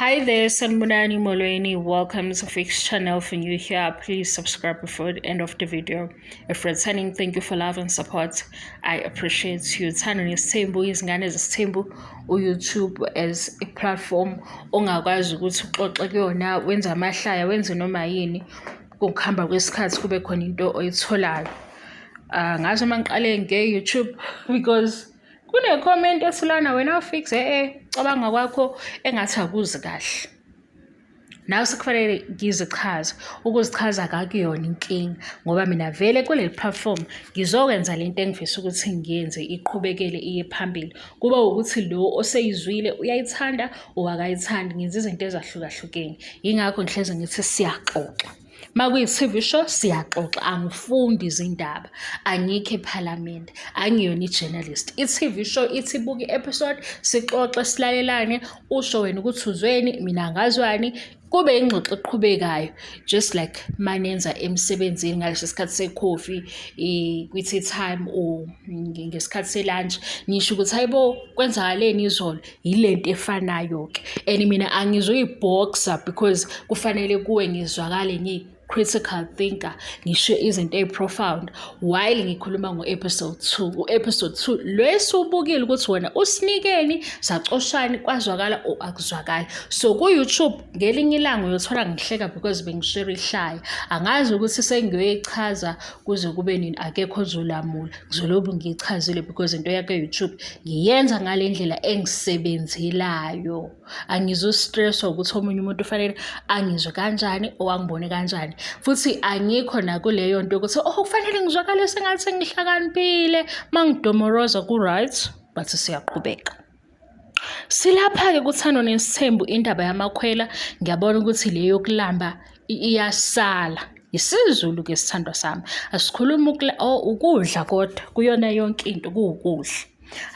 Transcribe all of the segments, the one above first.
Hi there, Sanmunani Molweni. Welcome to Fix Channel. For you here, please subscribe before the end of the video. If returning, thank you for love and support. I appreciate you. Thanani Sembu is ngane Sembu or YouTube as a platform. Ongakwazi ukuthi uxoxe kuyona, wenza amahlaya, wenze noma yini. Ngokuhamba kwesikhathi kube khona into oyitholayo. Uh, ngaze mangiqale nge-YouTube because Kune-comment esilana wena ufixe ecabanga eh, kwakho engathi akuzi kahle. Nawe sekufanele ngizichaze, ukuzichaza kakuyona inkinga ngoba mina vele kuleli platform ngizokwenza le nto engifisa ukuthi ngiyenze iqhubekele iye phambili. Kuba wukuthi lo oseyizwile uyayithanda or akayithandi, ngenza izinto ezahlukahlukene. Yingakho ngihlezi ngithi siyaxoxa. makuyi-TV show siyaxoxa angifundi izindaba angikho ephalamende angiyona i-journalist i-TV show ithi buka i-episode sixoxe silalelane usho wena ukuthi uzweni mina ngazwani kube ingxoxo eqhubekayo just like manenza emsebenzini ngaleso sikhathi sekhofi kwi-tea time or ngesikhathi selunch nisho ukuthi hayibo kwenzakaleni izolo yilento efanayo ke and mina angizoyiboxer because kufanele kuwe ngizwakale ngi critical thinker ngisho izinto eziprofound while ngikhuluma ngo-episode 2 u-episode 2 lwesiwubukile ukuthi wena usinikeni sacoshani kwazwakala or akuzwakali so ku-youtube ngelinye ilanga uyothola ngihleka because bengiswere ihlaya angazi ukuthi sengiyoyichaza kuze kube nini akekho ozolamula ngizolobu ngiyichazile because into yakhe youtube ngiyenza ngale ndlela engisebenzelayo angizostresswa ukuthi omunye umuntu ufanele angizwe kanjani owangibone kanjani futhi angikho nakuleyo nto ukuthi oh kufanele ngizwakale sengathi ngihlakaniphile uma ngidomoroza ku-right but siyaqhubeka Silapha-ke kuthando nesithembu indaba yamakhwela ngiyabona ukuthi le yokulamba iyasala yisiZulu ke sithandwa sami asikhulumi oh, ukudla kodwa kuyona yonke into kuwukudla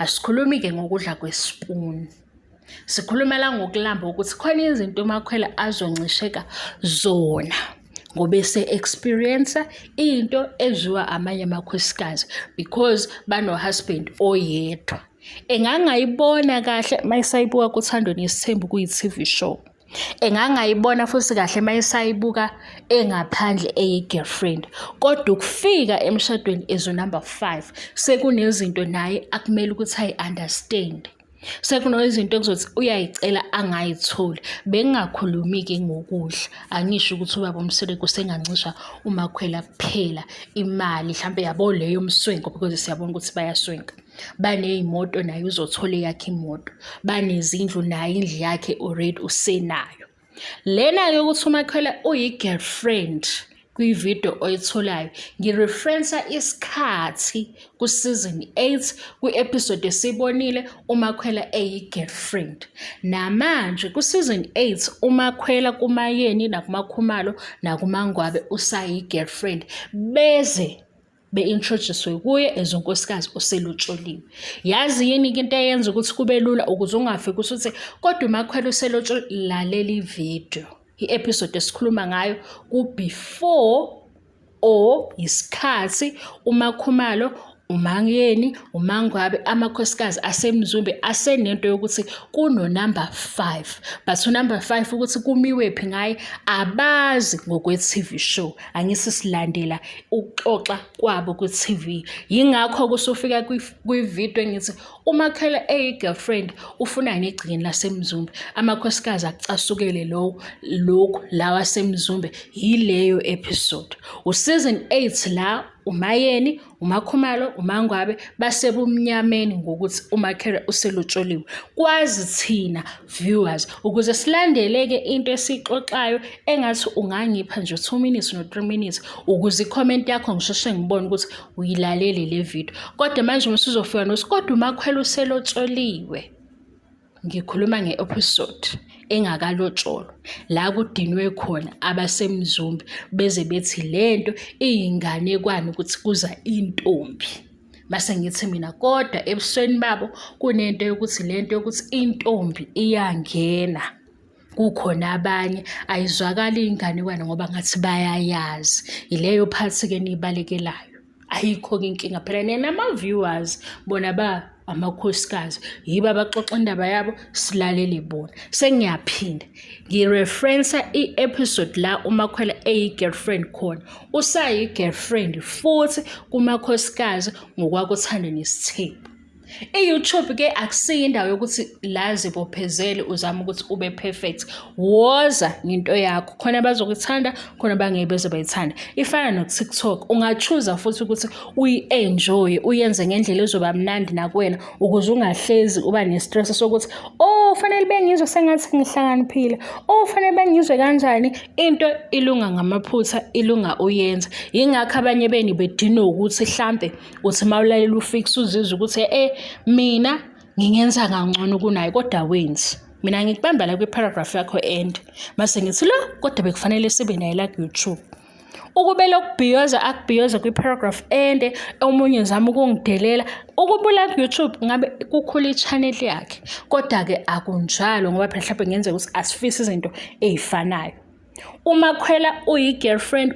asikhulumi ke ngokudla kwesipuni sikhulumela ngokulamba ukuthi khona izinto umakhwela azoncisheka zona ngoba ese-experience into edliwa amanye amakhosikazi because bano-husband oyedwa engangayibona kahle mayisayibuka kuthandweni yesithembu kuyi-tv show engangayibona futhi kahle mayisayibuka engaphandle eyi-girlfriend kodwa ukufika emshadweni as unumber five sekunezinto naye akumele ukuthi ayi-understand Sekuno izinto ekuzothi uyayicela angayitholi. Bengingakhulumi-ke ngokudla, angisho ukuthi ubaba uMseleku sengancisha uMakhwela kuphela imali mhlampe yabo le yomswenko because siyabona ukuthi bayaswenka. Baney'moto naye uzothola eyakhe imoto, banezindlu naye indlu yakhe already usenayo. lena yokuthi umakhwela uyi-girlfriend kwividiyo oyitholayo ngireferensa isikhathi ku-season 8 kwi-episode esibonile umakhwela eyi-girlfriend namanje ku-season 8 umakhwela kumayeni nakumakhumalo nakumangwabe usayi-girlfriend beze be-introduce kuye as unkosikazi oselotsholiwe yazi yini-ke into eyenza ukuthi kube lula ukuze ungafi ukuthi uthi kodwa umakhwela uselotsholi lalela ividiyo i-episode esikhuluma ngayo ku-before or yisikhathi umakhumalo umangeni umangwabe amakhosikazi asemzumbe asenento yokuthi kunonumber 5 but unumber 5 ukuthi kumiwephi ngaye abazi ngokwe-tv show angisi silandela ukuxoxa kwabo ku-TV yingakho kusufika kwi-video engithi umakhela eyi-girlfriend ufuna negcikini lasemzumbe amakhosikazi akucasukele lowo lokhu lawa asemzumbe yileyo episode usizini 8 la umayeni umakhumalo umangwabe basebumnyameni ngokuthi umakhere uselotsholiwe kwazi thina viewers ukuze silandeleke into esixoxayo engathi ungangipha nje 2 minutes no 3 minutes ukuze icomment yakho ngisheshe ngibone ukuthi uyilalele le video kodwa manje uma sizofika nosi kodwa umakhwela uselotsholiwe ngikhuluma nge-episode engakalotsholwa la kudinwe khona abasemzumbi beze bethi le nto iyinganekwane ukuthi kuza intombi mase ngithi mina kodwa ebusweni babo kunento yokuthi le nto yokuthi intombi iyangena kukhona abanye ayizwakali iy'nganekwane ngoba ngathi bayayazi yileyo phathi-ke niyibalekelayo ayikho-ke inkinga phela nenama-viewers bona ba amakhosikazi yibo abaxoxa indaba yabo silalele bona sengiyaphinda ngireferensa i-episode la umakhwela eyi-girlfriend khona usayi-girlfriend futhi kumakhosikazi ngokwakuthanda nesithembu I-YouTube ke akusiyo indawo yokuthi la zibophezele uzama ukuthi ube perfect woza ngento yakho khona bazokuthanda khona bangeke beze bayithanda ifana no-tiktok ungachuza futhi ukuthi uyi-enjoye uyenze ngendlela ezoba mnandi nakuwena ukuze ungahlezi uba nestress sokuthi oh fanele bengizwe sengathi ngihlakaniphile oh fanele bengizwe kanjani into ilunga ngamaphutha ilunga uyenza yingakho abanye beni bedinwe ukuthi hlampe uthi uma ulalela ufikise uzizwe ukuthi e mina ngingenza kangcono kunaye kodwa wenzi mina ngikubamba la kwi-paragraph yakho end mase ngithi lo kodwa bekufanele sibe naye la ku-youtube ukube lokubhiyoza akubhiyoza kwi-paragraph ende omunye zama ukungidelela ukubula ku-youtube ngabe kukhula i-channel yakhe kodwa-ke akunjalo ngoba phela mhlawumbe ngenzeka ukuthi asifisi izinto ey'fanayo umakhwela uyi-girlfriend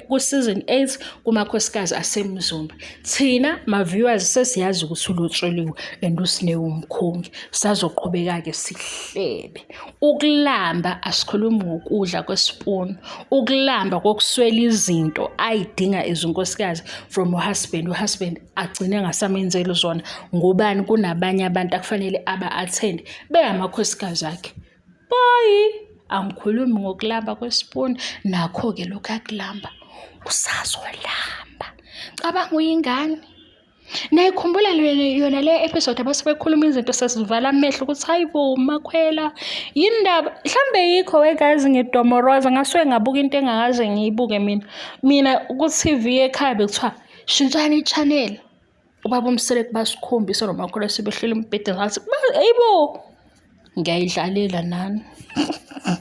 ku-season 8 kumakhosikazi asemzumba thina ma-viewers sesiyazi ukuthi ulotshuliwe and usinewumkhongi sazoqhubeka-ke sihlebe ukulamba asikhulumi ngokudla kwesipuni ukulamba kokuswela izinto ayidinga izinkosikazi from uhusband uhusband agcine ngasamenzeli zona ngobani kunabanye abantu akufanele aba-athende bengamakhosikazi akhe boy angikhulumi ngokulamba kwesipuni nakho-ke lokhu akulamba usazolamba cabanga uyingane nayikhumbula yona le episode abase bekhuluma izinto sesivala amehlo ukuthi hayi bo makhwela yini ndaba mhlawumbe yikho wegazi ngidomoroza ngasuke ngabuka into engakaze ngiyibuke mina mina ku-tv ekhaya bekuthiwa shintshani i-channel ubaba umseleki basikhombisa nomakhulu sebehleli embhedeni ngathi eyibo ngiyayidlalela nani